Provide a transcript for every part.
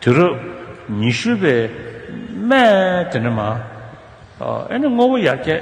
དུས་རབས་ཉི་ཤུ་པའི་སྨད་དེ་ནས་མ་ཨེ་ནི་དངོས་པོ་ཡར་རྒྱས་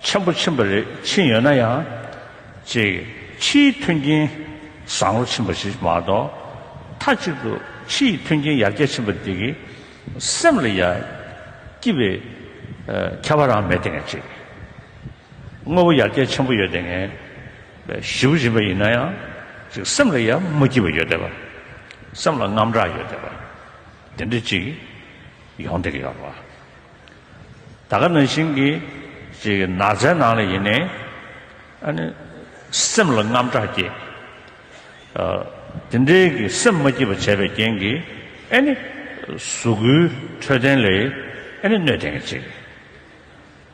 ཆེན་པོ་ཕྱིན་པ་རེད་ཕྱིན་ཡོད་ན་ཡང་ཅིག་ཕྱིའི་མཐུན་རྐྱེན་བཟང་བོ་ཕྱིན་པ་ཞིག་མ་གཏོགས་མཐའ་གཅིག་ཏུ་ཕྱི་ཡི་མཐུན་རྐྱེན་ཡར་རྒྱས་ཕྱིན་པ་དེ་གི་སེམས་ལ་ཡ་སྐྱིད་པའི་ཁྱད་པར་རང་མེད་དེ་ངས་ཅིག་དངོས་པོ་ཡར་རྒྱས་ཆེན་པོ་ཡོད་དེ་ངས། བཞི་བཞིན་པ་ཡིན་ན་ཡང་ཅིག་སེམས་ལ་ཡར་མ་སྐྱིད་པ་ཡོད་བསྡད་པ། སེམས་ལ་རྔམ་དྲག་ཡོད་བསྡད་པ། དེ་འདྲ་ཅིག་ཡོང་བསྡད་ཀྱི་ཡོད་པ། ད་ག་ན་བཞིན་གྱི་ཅིག་ནགས་ཚལ་ནང་ལ་ཡིན་ནས་ཨ་ནི་སེམས་ལ་རྔམ་དྲག་སྐྱེ། དེ་འདྲའི་གི་སེམས་མ་སྐྱིད་པ་བྱས་པའི་རྐྱེན་གྱིས་ཨེ་ནི་གཟུགས་སྐུའི་འཕྲོད་བསྟེན་ལས་ཨེ་ནི་གནོད་བསྡད་ཀྱི་ཅིག།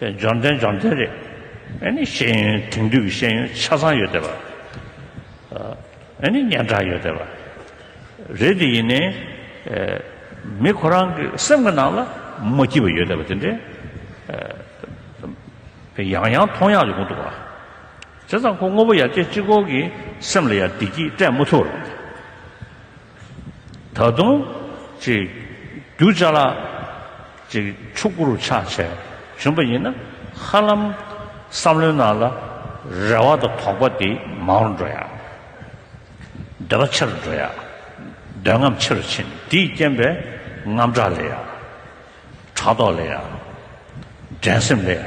འབྱོར་ལྡན་འབྱོར་ལྡན་རེད། ཨཱ་ནི་ཤེས་ཡོན་དེང་དུས་ཀྱི་ཤེས་ཡོན་ཆ་ཚང་ཡོད་བསྡད་པ། ཨཱ་ནི་སྙན་གྲགས་ཡོད་བསྡད་པ་རེད་དེ་ཡིན་ནའི། མི་ཁོ་རང་གི་སེམས་ཀྱི་ནང་ལ་མ་སྐྱིད་པ་ཡོད་བསྡད་པ་དེ་འདྲའི། ཡང་ཡང་མཐོང་ཡག་ཡོང་གི་འདུག་བ། བྱས་ཙང་ཁོ་དངོས་པོ་ཡར་རྒྱས་སྤྱི་ཁོག་གི་སེམས་ལ་ཡང་བདེ་སྐྱིད་སྤྲད་མ་ཐུབ་བ་རེད། ད་དུང། རྒྱུ་བཅའ་ལ། ཕྱུག་པོ་རུ་ཆགས་བྱས་བྱོན་པ་ཡིན་ན། ཧ་ལམ། བསམ་བློའི་ནང་ལ། རེ་བ་དང་དོགས་པ་དེ་མང་རུ་འགྲོ་ཡ། འདོད་པ་ཆེ་རུ་འགྲོ་ཡ། འདོད་རྔམ་ཆེ་རུ་ཕྱིན་དེའི་རྐྱེན་པས་རྔམ་སྐྲག་ལས་ཡ། ཕྲག་དོག་ལས་ཡ། འགྲན་སེམས་ལས་ཡ།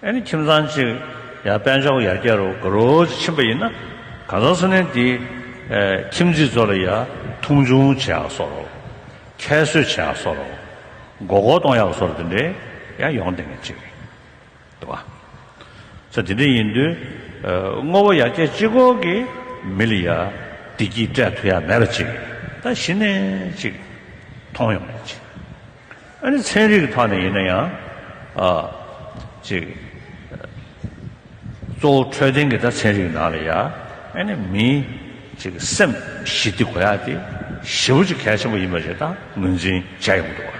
ཨེ་ནི་ཁྱིམ་ཚང་གཅིག་ཡང་དཔལ་འབྱོར་ཡར་རྒྱས་རུ་འགྲོ་རུ་ཕྱིན་པ་ཡིན་ན་གང་ཟག་སུ་ནན་དེའི་ཁྱིམ་མཚེས་ཚོ་ལ་ཡང་མཐོང་ཆུང་བྱེད་ཡག་སོ་རུ། ཁྱད་གསོད་བྱེད་ཡག་སོ་རུ། མགོ་སྐོར་གཏོང་ཡག་སོ་རུ་དེ་འདྲའི་ཡང་ཡོང་བསྡད་མཁན་གཅིག་རེད་བ། ཚེ་དེ་འདྲ་ཡིན་དུས་དངོས་པོ་ཡར་རྒྱས་སྤྱི་ཁོག་གི་མི་ལ་ཡང་བདེ་སྐྱིད་སྤྲད་ཐུབ་ཡག་མེད་པ་གཅིག་རེད་ད་གཞི་ནས་གཅིག་མཐོང་ཡོང་མཁན་གཅིག། ཨ་ནི་ཚན་རིག་ཐོག་ནས་ཡིན་ན་ཡང། གཅིག། གཙོ་བོ་འཕྲོད་བསྟེན་གྱི་ད་ཚན་རིག་ནང་ལ་ཡ། ཨ་ནི་མིའི། གཅིག་སེམས་ཞི་བདེ་གོ་ཡ་དེ། ཞི་བ་ཅིག་གལ་ཆེན་པོ་ཡིན་པ་ཞིག་ད་ངོས་འཛིན་བྱས་ཡོང་གི་འདུག་བ།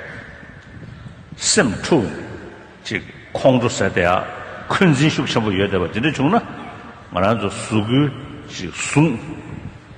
སེམས་འཁྲུག་ནས། གཅིག་ཁོང་ཁྲོ་ཟད་དེ་ཡ། འཁོན་འཛིན་ཤུགས་ཆེན་པོ་ཡོད་བསྡད་པ་དེ་འདྲ་བྱུང་ན། ང་རང་ཚོ་གཟུགས། གཅིག་གཟུངས།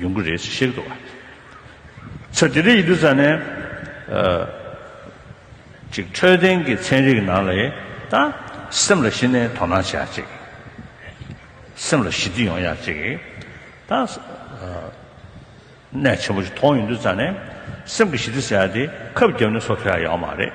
ཡོང་གི་རེད་ཅེས་བཤད་ཀྱི་འདུག་ཚེ་འདི་འདྲའི་ཡིག་འབྲུ་ཙམ་ནས། ཅིག་འཕྲོད་བསྟེན་གྱི་ཚན་རིག་ནང་ལས་ད། སེམས་ལ་ཞི་ནས་དོ་སྣང་བྱེད་ཡག་ཅིག། སེམས་ལ་ཞི་བདེ་ཡོང་ཡག་ཅིག། ད། ནད་ཆེན་པོ་ཞིག་མཐོང་ཡོང་དུས་ཙམ་ནས། སེམས་ཀྱི་ཞི་བདེ་ཟེར་ཡག་དེ་ཁབ་རྒྱབ་ནས་སོ་ཐོ་ཡག་ཡོང་བ་མ་རེད།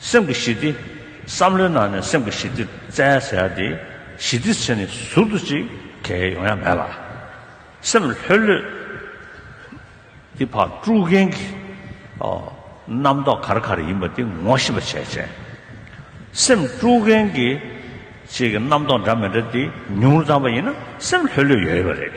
སེམས་ཀྱི་ཞི་བདེ། བསམ་བློའི་ནང་ནས་སེམས་ཀྱི་ཞི་བདེ་བཙལ་ཟེར་ཡ་དེ། ཞི་བདེ་ཆེ་ནི་ཟུར་དུ་ཅིག་གལ་ཡོང་ཡ་མེད་ལ། སེམས་ལྷོད་ལྷོད། དེ་ཕར་དཀྲུག་མཁན་གྱི། རྣམ་རྟོག་གར་གར་ཡིན་པ་དེ་ངོ་ཤེས་པ་བྱས་བྱས། སེམས་དཀྲུག་མཁན་གྱི། ཅིག་གི་རྣམ་རྟོག་འདྲ་མི་འདྲ་དེ་ཉུང་རུ་བཏང་པ་ཡིན་ན་སེམས་ལྷོད་ལྷོད་ཡོད་ཡོད་པ་རེད།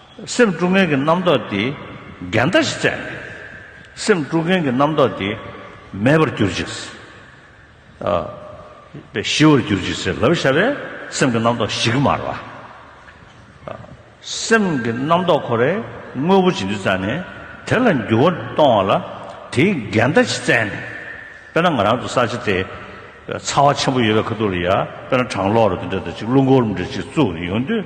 སེམས་དཀྲུག་མཁན་གྱི་རྣམ་རྟོག་དེས་འགལ་ཟླ་ཞིག་བཙལ་ནས། སེམས་དཀྲུག་མཁན་གྱི་རྣམ་རྟོག་དེ་མེད་པར་གྱུར་ཅིག། ཞི་བར་གྱུར་ཅིག་ཟེར་ལབ་བྱ་བའི་སེམས་ཀྱི་རྣམ་རྟོག་ཞི་གི་མར་བ། སེམས་ཀྱི་རྣམ་རྟོག་ཁོ་རའི་དངོས་པོ་ཇི་འདི་བཙལ་ནས་དེ་ལ་འགྱུར་བ་གཏོང་བ་ལ་དེས་འགལ་ཟླ་ཞིག་བཙལ་ནས། དཔེར་ན་ང་རང་ཚོ་ས་ཆ་དེ་ཚ་བ་ཆེན་པོ་ཡོད་པའི་ཁ་ཐུག་ལ་ཡ་དཔེར་ན་གྲང་གློག་ར་འདི་འདྲ་དང་གཅིག་རླུང་འཁོར་འདྲ་གཅིག་བཙུགས་ནས་ཡོང་དུས།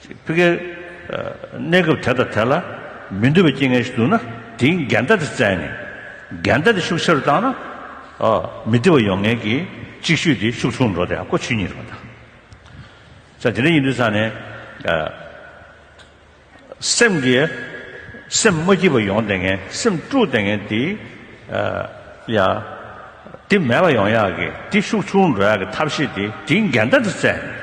ཕི་ཀའི་གནས་སྐབས་དེ་དང་དེ་ལ་མི་འདོད་པའི་རྐྱེན་ངན་ཞིག་འདུག་ན་དེའི་འགལ་ཟླ་དེ་བཙལ་ནས། འགལ་ཟླ་དེ་ཤུགས་ཆེ་རུ་བཏང་ན། མི་བདེ་བ་ཡོང་ངེས་ཀྱི་ཅིག་ཤོས་དེ་ཤུགས་ཆུང་འགྲོ་དེ་ཡང་ཀོ་ཆུད་ཉིད་རེད་པ་དང། དེ་འདྲ་ཡིན་དུས་ཚང་ནས། སེམས་ཀྱི་སེམས་མ་སྐྱིད་པ་ཡོང་དེ་ངན་སེམས་དཀྲུགས་དེ་ངན་དེ་ཡང། དེ་མེད་པ་ཡོང་ཡག་གི་དེ་ཤུགས་ཆུང་འགྲོ་ཡག་གི་ཐབས་ཤེས་དེ་དེའི་འགལ་ཟླ་དེ་བཙལ་ནས།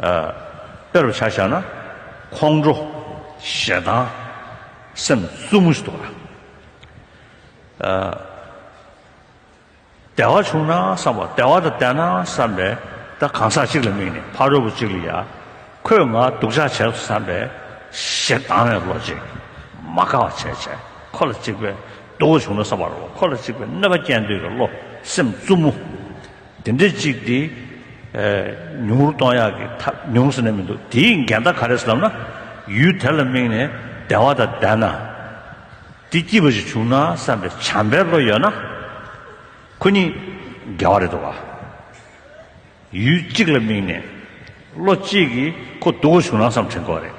དཔེར་བྱ་བཞག་ན། ཁོང་ཁྲོ། ཞེ་སྡང། སེམས་བཙུན་མོ་ཞིག་འདུག་ལ། དལ་བ་བྱུང་ན་བསམ་པ་དལ་བ་དང་བསྡད་ན་བསམ་པས་ད་གང་ཟག་གཅིག་ལ་དམིགས་ནས་ཕ་རོལ་པོ་གཅིག་ལ་ཡ། ཁོས་ང་སྡུག་ཅག་བྱས་སོ་བསམ་པས། ཞེ་སྡང་བའི་བློ་གཅིག། མ་དགའ་བ་བྱས་བྱས་ཁོ་ལ་གཅིག་པས་སྡུག་བ་བྱུང་ན་བསམ་པར་རོ་ཁོ་ལ་གཅིག་པས་གནོད་པ་སྐྱེལ་འདོད་ཀྱི་བློ་སེམས་བཙུན་མོ། དེ་འདྲས་གཅིག་དེ། ཉུང་རུ་གཏོང་ཡག་གི་ཐ་ཉུང་ཟེར་ནས་མི་འདུག་དེའི་འགལ་ཟླ་ག་རེ་ཟེར་ལབ་ན། ཡུལ་དེ་ལ་དམིགས་ནས་བདེ་བ་དང་ལྡན་ན། དེ་སྐྱིད་པ་ཞིག་བྱུང་ན་བསམ་པའི་བྱམས་པའི་བློ་ཡོད་ན། ཁོ་གཉིས་འགལ་བ་རེད་འདུག་ག། ཡུལ་གཅིག་ལ་དམིགས་ནས། བློ་གཅིག་གིས་ཁོ་སྡུག་པོ་བྱུང་ན་བསམ་དྲན་དགོས་པ་རེད།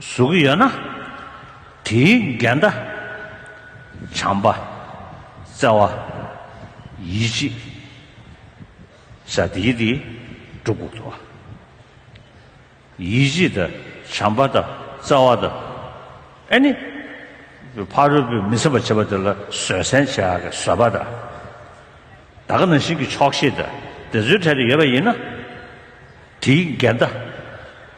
གཟུགས་ཡོད་ན་དེའི་འགལ་ཟླ། བྱམས་པ། བརྩེ་བ། ཡིད་ཆེས། བྱ་སྟེ་དེ་གྲུབ་དགོས་སོ། ཡིད་ཆེས་དང་བྱམས་པ་དང་བརྩེ་བ་དང། ཨེ་ནི། ཕ་རོལ་པོས་མི་སེམས་པར་བྱེད་པ་དེ་ལ་བཟོད་བསྲན་བྱ་དགའི་བཟོད་པ་དང། བདག་རང་བཞིན་གྱི་ཆོག་ཤེས་དང་དེ་ཚོའི་གྲལ་དུ་ཡོད་པ་ཡིན་ན། དེའི་འགལ་ཟླ།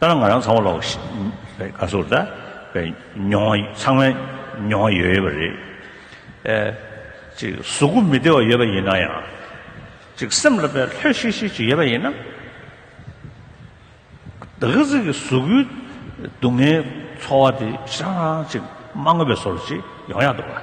ལྟར་ང་རང་ཚང་བ་ལོག་ཞིག་ག་སོར་ད་མྱོང་ཚང་མས་མྱོང་ཡོད་ཡོད་པ་རེད་ཨེ། ཅིག་གཟུགས་སྐུ་མི་བདེ་བ་ཡོད་པ་ཡིན་ན་ཡང། ཅིག་སེམས་ལ་བས་ལྷོད་ཤིག་ཤིག་ཅིག་ཡོད་པ་ཡིན་ན། ད་གི་ཟིག་གི་གཟུགས་སྐུའི་སྡུག་བསྔལ་འཚོ་བ་དེ་ཧྲང་ཧྲང་ཅིག་མ་དངོས་པའི་སོར་ཅིག་ཡོང་ཡག་འདུག་ག།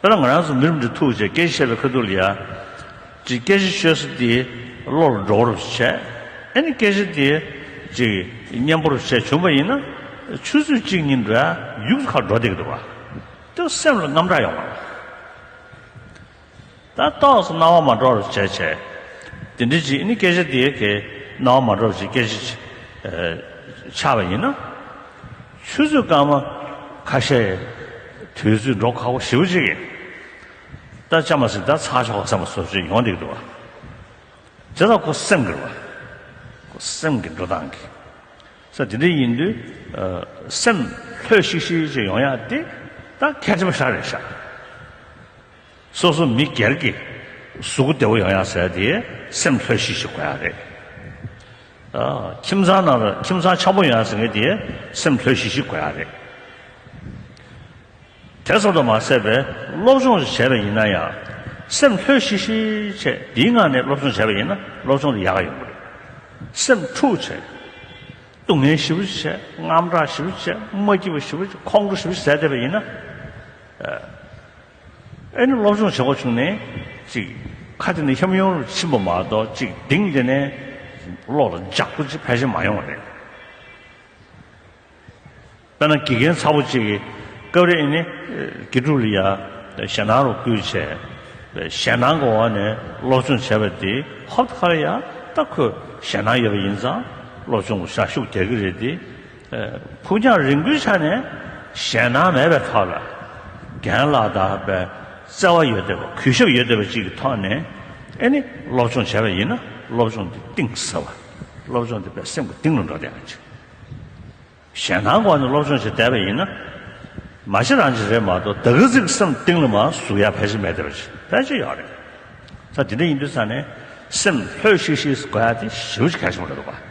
དཔེར་ན་ང་རང་ཚོ་མི་རིགས་འདི་ཐུགས་རྗེས་སྐད་ཆ་བཤད་པའི་ཁ་ཐུག་ལ་ཡ། ཅིག་སྐད་ཆ་ཤོད་ས་དེ་བློ་ལ་འགྲོ་བ་རུ་བྱས། ཨེ་ནི་སྐད་ཆ་དེ་ཅིག་སྙན་པོ་རུ་བྱས་བྱུང་བ་ཡིན་ན། ཆུ་ཚོད་གཅིག་གཉིས་འདྲ་ཡུགས་སུ་ཁ་འགྲོ་བསྡད་ཀྱི་འདུག་བ། དེ་བ་སེམས་ལ་རྔམ་སྐྲག་ཡོང་བ་རེད། ད་རྟོགས་སུ་སྣང་བ་མ་གྲོགས་རུ་བྱས། དེ་འདྲི་བྱེད་ནི་སྐད་ཆ་དེ་གའི་སྣང་བ་མ་གྲོགས་ཀྱི་སྐད་ཆ་ཆགས་པ་ཡིན་ན། ཆུ་ཚོད་སྐར་མ་ཁ་ཤས་དུས་ཚོད་འགྲོ་ཁག་པོ་བཞི་བོ་གཅིག་ཡིན། ད་ཅང་མ་ཟིན་ད་ཚགས་ཆོག་བསམ་པ་སོ་སོའི་ཡོང་སྟེ་འགྲོ་བ། དེ་དག་ཁོ་སེམས་ཀྱི་རེད་པ། ཁོ་སེམས་ཀྱི་འགྲོ་སྟངས་ཀྱི་ས་དེ་འདྲ་ཡིན་དུས་སེམས་ལྷོད་ཤིག་ཤིག་ཅིག་ཡོང་ཡག་སྟེ། ད་ཁལ་ཆེན་པོ་ཤར་རེ་ཤར། སོ་སོ་མི་སྒེར་གྱི་གཟུགས་སྐུ་བདེ་བོ་ཡང་ཡང་ཟེར་ཏེ་སེམས་ལྷོད་ཤིག་ཤིག་དགོས་ཡ་རེད། ཁྱིམ་ཚང་ནང་ལ་ཁྱིམ་ཚང་ཆགས་པོ་ཡོང་ཡ་ཟེར་མཁན་དེ་སེམས་ལྷོད་ཤིག་ཤིག་དགོས་ཡ་རེད། དེ་ཙམ་དུ་མ་ཟད་པའི་སློབ་སྦྱོང་ཞིག་བྱས་པ་ཡིན་ན་ཡང་སེམས་ལྷོད་ཤིག་ཤིག་བྱས་འདིའི་ངང་ནས་སློབ་སྦྱོང་བྱས་པ་ཡིན་ན་སློབ་སྦྱོང་དུ་ཡག་ཡོང་གི་རེད། སེམས་འཁྲུག་བྱས། སྡུག་བསྔལ་ཞིབ་བྱས་དངངས་སྐྲག་ཞིབ་བྱས་མ་སྐྱིད་པ་ཞིབ་བྱས་ཁོང་ཁྲོ་ཞིབ་བྱས་བསད་བསྡད་པ་ཡིན་ན། ཨེ་ནི་སློབ་སྦྱོང་བྱེད་སྒོ་བྱུང་ནས་ཅིག། ཁ་དེ་ནི་ཤམ་ཡོང་རུ་ཕྱིན་པ་མ་གཏོགས་ཅིག་གདིང་དེ་ནས་གློག་ལ་འཇགས་སྒོ་ཅིག་ཕལ་ཆེར་མ་ཡོང་བ་རེད། དཔེར་ན་དགེ་རྒན་ཚ་བོ་ཅིག་གིས་སྐབས་རེ་ཨེ་ནི་དགེ་ཕྲུག་ལི་ཡ་ཞལ་ནང་རུ་བསྐུལ་བྱས་པས་ཞལ་ནང་གི་འོག་ནས་སློབ་སྦྱོང་བྱས་པ་དེ་ཧོབ་ཁ་རེ་ཡ་ད་ཁོས་ཞལ་ནང་ཡོད་པ་ཡིན་ཙང་སློབ་སྦྱོང་གི་ཞག་ཤུགས་རྒྱག་གི་རེད་དེ། ཕུགས་རྒྱང་རིང་པོའི་ཆ་ནས་ཞེད་སྣང་མེད་པའི་ཐོག་ལ་རྒན་ལགས་དག་པའི་བརྩེ་བ་ཡོད་དོད་པ་གུས་ཞབས་ཡོད་དོད་པ་ཅིག་གི་ཐོག་ནས་ཨེ་ནི་སློབ་སྦྱོང་བྱས་པ་ཡིན་ན་སློབ་སྦྱོང་དེ་གཏིང་ཟབ་བ་སློབ་སྦྱོང་དེ་པའི་སེམས་ཀྱི་གཏིང་རུ་འགྲོ་བསྡད་པ་ཅིག་ཞེད་སྣང་སྒོ་ནས་སློབ་སྦྱོང་བྱས་བསྡད་པ་ཡིན་ན་མ་གཞི་རང་གཞི་རེད་མ་གཏོགས་ད་གི་ཟིག་གི་སེམས་གཏིང་རུ་མ་ཟུག་ཡ་ཕལ་ཆེར་མེད་བསྡད་པ་ཅིག་ཕལ་ཆེར་ཡོད་རེད། ད་དེ་འདྲ་ཡིན་དུས་ཚ་ནས་སེམས་ལྷོད་ཤིག་ཤིག་དགོས་ཡ་དེ་ཞིབ་ཅིག་གལ་ཆེན་པོ་རེད་འདུག་བ།